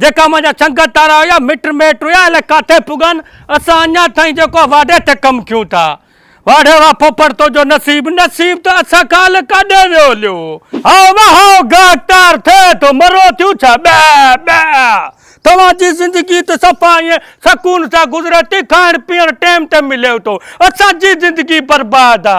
جيڪا منهنجا سنگت وارا هيا، مٽ ميٽ هيا، الائي ڪاٿي پڳن، اسان اڃا تائين جيڪو آ واڍي تي ڪم ڪيون ٿا. واڍي واهه ڦوڦڙ تنهنجو نصيب، نصيب ته اسان کان الائي ڪاڏي ويو هليو. هائو واهه هائو گاهڪٽار ٿئي ٿو، مرو ٿيون ڇا، ٻئه ٻئه. توهان جي زندگي ته صفا ائين سڪون سان گذري ٿي، کائڻ پيئڻ ٽيم تي مليو ٿو، اسان جي زندگي برباد آ.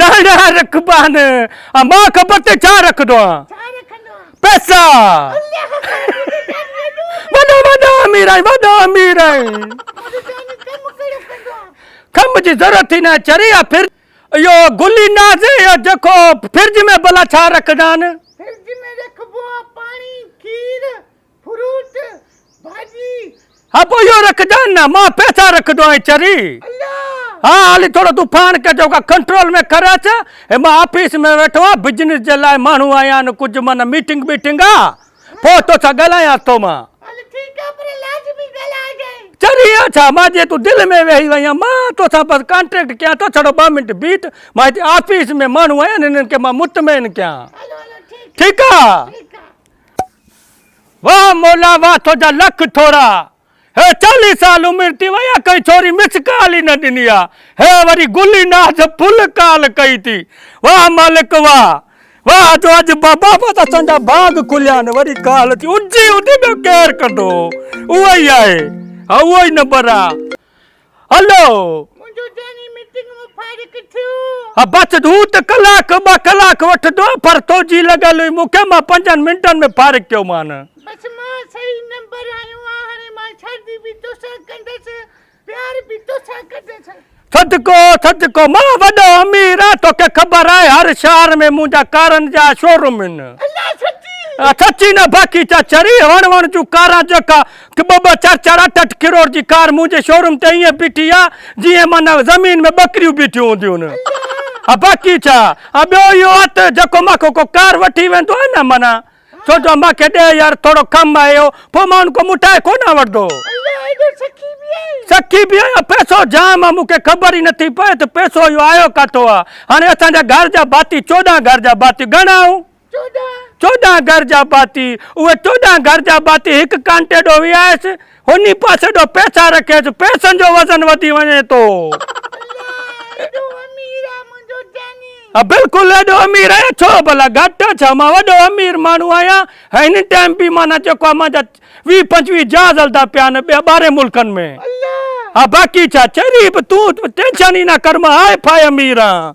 داڻا رکبا آھن ۽ مان خبر تي ڇا رکندو آھيان. پئسا. وڏو وڏا امير آھين وڏو امير آھين. خم جي ضرورت ئي ناھي چري يا پھرج. اھو گلي ناز اھو جيڪو پھرج ۾ ڀلا ڇا رکندا آھن. پھرج ۾ رکبو آھي پاڻي کير. فروٽ ڀاڄي. ها پوء اهو رکجان نه مان پئسا رکدو آهين چري ها هالي ٿورو تون پاڻ کي جو ڪا ڪنٽرول ۾ ڪر اچ هي مان آفيس ۾ ويٺو آهيان بزنس جي لاء ماڻهو آيا آهن ڪجهه معنيٰ ميٽنگ بيٽنگ آ پوء توسان ڳالهايان ٿو مان. هل ٺيڪ آ پر لازمي ڳالهاء جانء. چري ها ڇا مان جي تون دل ۾ ويهي وئين آهين مان توسان بس ڪانٽريڪٽ ڪيان ٿو ڇڙو ٻه منٽ بيٺ مان هتي آفيس ۾ ماڻهو آيا آهن هنن کي مان مطمئن ڪيان هلو هلو ٺيڪ ٺيڪ آ. ٺيڪ آ. واھ مولا واھ توجا لک ٿورا ھي چاليھ سال عمر ٿي وئي آ ڪنھن ڇوري مس ڪال ئي نه ڏني آ ھي وري گل ئي ناز ڦل ڪال ڪئي ٿي واھ مالڪ واھ واھ جو اڄ بابت اسان جا باغ کليا آھن وري ڪال ٿي اجھي اھدي ۾ ڪير ڪندو اھو ئي آھي اھو ئي نمبر آ. هلو! منهنجو ذهني ميٽنگ مون فارغ ٿيو. ها بس هو ته ڪلاڪ ٻه ڪلاڪ وٺندو پر تو جي لڳل هئي مون کي مان پنجن منٽن ۾ فارغ ڪيو مان. بس مان صحيح نمبر آيو آ هاڻي مان شادي به تو سان ڪندس پيار به تو سان ڪندس. صدقو صدقو مان وڏو امير آ تو کي خبر آهي هر شهر ۾ منهنجا ڪارن جا شوروم هن. الله سچي. سچي نه باقي چچري وڻ وڻ جون ڪاران جيڪا ڪه ٻه ٻه چار چار اٺ اٺ ڪروڙ جي ڪار منهنجي شوروم تي ائين بيٺي آ جيئن معنيٰ زمين ۾ ٻڪريون بيٺيون هونديون آ باقي ڇا آ ٻيو اهو آ ته جيڪو مان کان ڪو ڪار وٺي ويندو آ نه معنيٰ ڇو جو مان کي ڏي يار ٿورو ڪم آ اهو پوء مان ان کان مٽائي ڪونه وٺندو سکي به آهيان پئسو جام آ مون کي خبر ئي نٿي پئي ته پئسو اهو آيو ڪاٿو آ هاڻي اسان جا گهر جا ڀاتي چوڏهن گهر جا ڀاتي گهڻا آهون. چوڏهن گهر جا ڀاتي، اهي چوڏهن گهر جا ڀاتي هڪ ڪانٽي ڏو ويهائيس، هوني پاسي ڏو پئسا رکيس، پئسن جو وزن وڌي وڃي ٿو. ها بلڪل ايڏو امير آهيان ڇو ڀلا گهٽ آ ڇا مان وڏو امير ماڻهو آهيان ۽ هن ٽائيم به معنيٰ جيڪو آ مانجا ويهه پنجويهه جهاز هلدا پيا آهن ٻي ٻاهرين ملڪن ۾ ها باقي ڇا چري به تون ٽينشن ئي نه ڪر مان هاء ڦاء امير آهيان.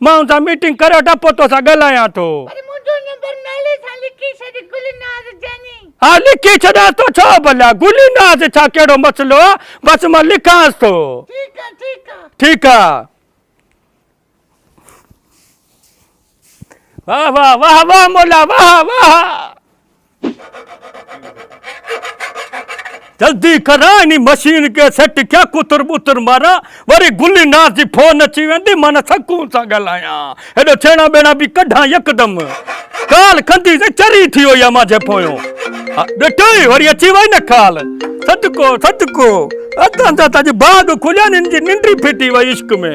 ماڻهن سان ميٽنگ ڪري وٺان پوء توسان ڳالهايان ٿو. پر منهنجو نمبر نالي سان لکي ڇڏ گل ناز جاني. ها لکي ڇڏيانس ٿو ڇا ڀلا. گل ناز ڇا ڪهڙو مسئلو آ بس مان لکانس ٿو. ٺيڪ آ ٺيڪ آ. ٺيڪ آ. واهه واهه واهه واهه مولا واهه واهه. جلدي ڪراء انهي مشين کي سيٽ ڪيا ڪتر ٻتر مارا وري گلي ناز جي فون اچي ويندي مان سڪون سان ڳالهايان هيڏو ڇيڻا ٻيڻا به ڪڍان يڪدم ڪال ڪندي سين چري ٿي وئي آ مانجهي پويو ڏٺو ئي وري اچي وئي نه ڪال صدقو صدقو اتان جا تاجي باغ کليا نن جي ننڊي ڦٽي وئي عشق ۾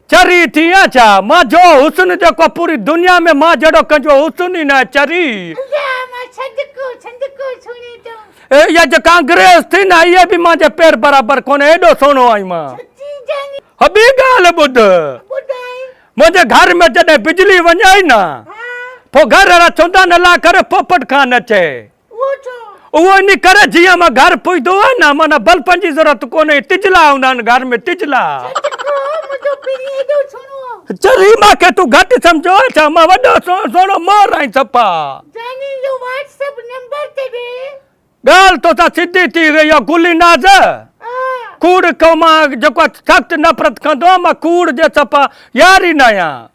چري ٿي آن ڇا؟ مان جو حسن جيڪو پوري دنيا ۾ مان جهڙو ڪنهنجو حسن ئي ناهي چري. انجا مان ڇنجڪو ڇنجڪو ڇوڻي ٿو. اها جيڪا انگريز ٿي نه اها به مان جي پير برابر ڪونهي ايڏو سهڻو آهين مان. چچي جاني. هو ٻي ڳالهه ٻڌ. ٻڌائي. منهنجي گهر ۾ جڏهن بجلي وڃائي نه. ها. پوء گهر وارا چوندا نه لاء ڪري پوپٽ کان نه چئي. اهو ان ڪري جيئن مان گهر پهتو آهيان نه معنيٰ بلفن جي ضرورت ڪونهي تجلا هوندا آهن گهر ۾ تجلا. چل ريما کي تون گهٽ سمجهو آهي ڇا مان وڏو سهڻو سهڻو مور آهين صفا. ڳالهه توسان سڌي ٿي ويئي اها گلي ناز کوڙ کان مان جيڪو سخت نفرت ڪندو آهيان مان کوڙ جي صفا يار ئي نه آهيان.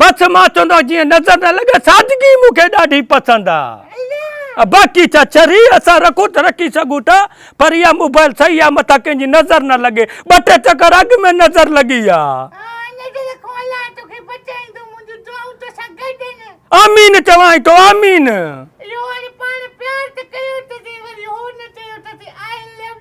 بس مان چوندو جيئن نظر نه لڳي سادگي مون کي ڏاڍي پسند آ باقي ڇا چري اسان رکون ته رکي سگهون ٿا پر اها موبائل صحيح آ مٿان ڪنهن جي نظر نه لڳي ٻه ٽي چڪر اڳ ۾ نظر لڳي آ. آمين چوانء ٿو آمين.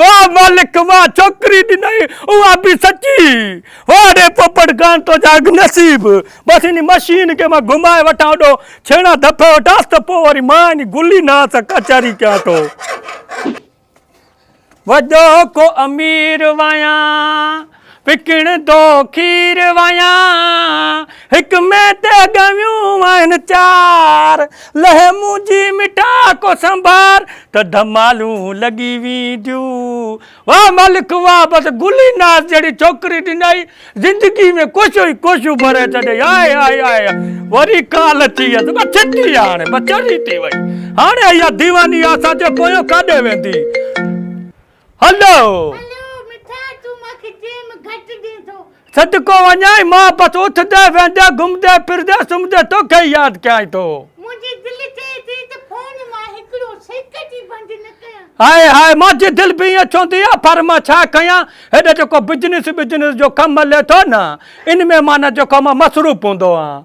واھ مالڪ واھ ڇوڪري ڏنئي اها به سچي واڙي پوپٽ کان تو جا اڳ نصيب بس انهي مشين کي مان گهمائي وٺان هوڏو ڇيڻا ڌپ وٺانس ته پوء وري مان انهي گلي ناز سان ڪچهري ڪيان ٿو وڏو ڪو امير ويان وڪڻ دو کير ويان هڪ مين تي ڳويون آهن چار لئه منهنجي مٺا ڪو سنڀار ته ڌمالون لڳي وينديون واه مالڪ واه بس گل ئي ناز جهڙي ڇوڪري ڏنائي زندگي ۾ ڪوشو ئي ڪوشو ڀري ڇڏيائين آء آء آء آء وري ڪال اچي ويس بس ڇٽي هاڻي بس چري ٿي وئي هاڻي اها ديواني اسان جي پويان ڪاڏي ويندي. هلو! صدقو وڃائين مان بس اٿندي ويهندي گهمندي ڦرندي سمهندي توکي ئي ياد ڪيائين ٿو. هاء هاء مانجي دل به ائين چوندي آهي پر مان ڇا ڪيان هيڏا جيڪو بزنس بزنس جو ڪم ملي ٿو نه ان ۾ معنيٰ جيڪو مان مصروف هوندو آهيان.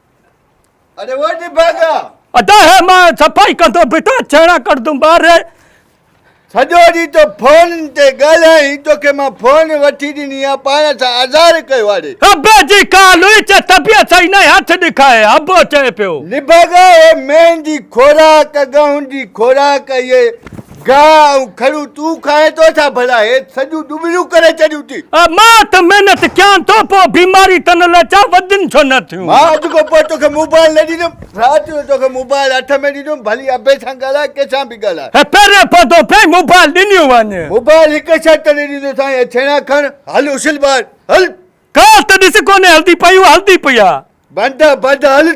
ادا هي مان صفائي ڪندو بيٺا چهڻا ڪرندم ٻاري سڄو ڏينهن تو فون تي ڳالهائين توکي مان فون وٺي ڏني آ پاڻ سان آزار ڪيو آڙي ابي جي ڪال هئي چي طبيعت صحيح ناهي هٿ ڏکائي ابو چئي پيو نڀاڳا هي مينهن جي خوراڪ ڳهون جي خوراڪ اهي گاهه ۽ کڙون تون کائين ٿو ڇا ڀلا هيت سڄون ڏٻليون ڪري ڇڏيون ٿي. مان ته محنت ڪيان ٿو پوء بيماري ته نه لچان وڌين ڇو نه ٿيون. مان اڄ کان پوء توکي موبائل نه ڏيندم رات جو توکي موبائل هٿ ۾ ڏيندم ڀلي ابي سان ڳالهاء ڪنهن سان به ڳالهاء. هي پهرين پوندو پئي موبائل ڏنيون وڃ. موبائل هڪ شرط تي ڏيندو سائين هي ڇيڻا کڻ هل اڇل ٻاهر هل. ڳالهه ته ڏس ڪونهي هلدي پئي هو هلدي پئي آ. بند آ بند هل.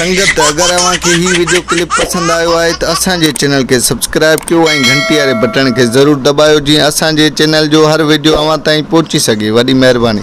سنگت اگر اوهان کي هي وڊيو ڪلپ پسند آيو آهي ته اسان جي چينل کي سبسڪرائب ڪيو ۽ گهنٽي واري بٽڻ کي ضرور دٻايو جيئن اسان جي چينل جو هر وڊيو اوهان تائين پهچي سگهي وڏي مهرباني.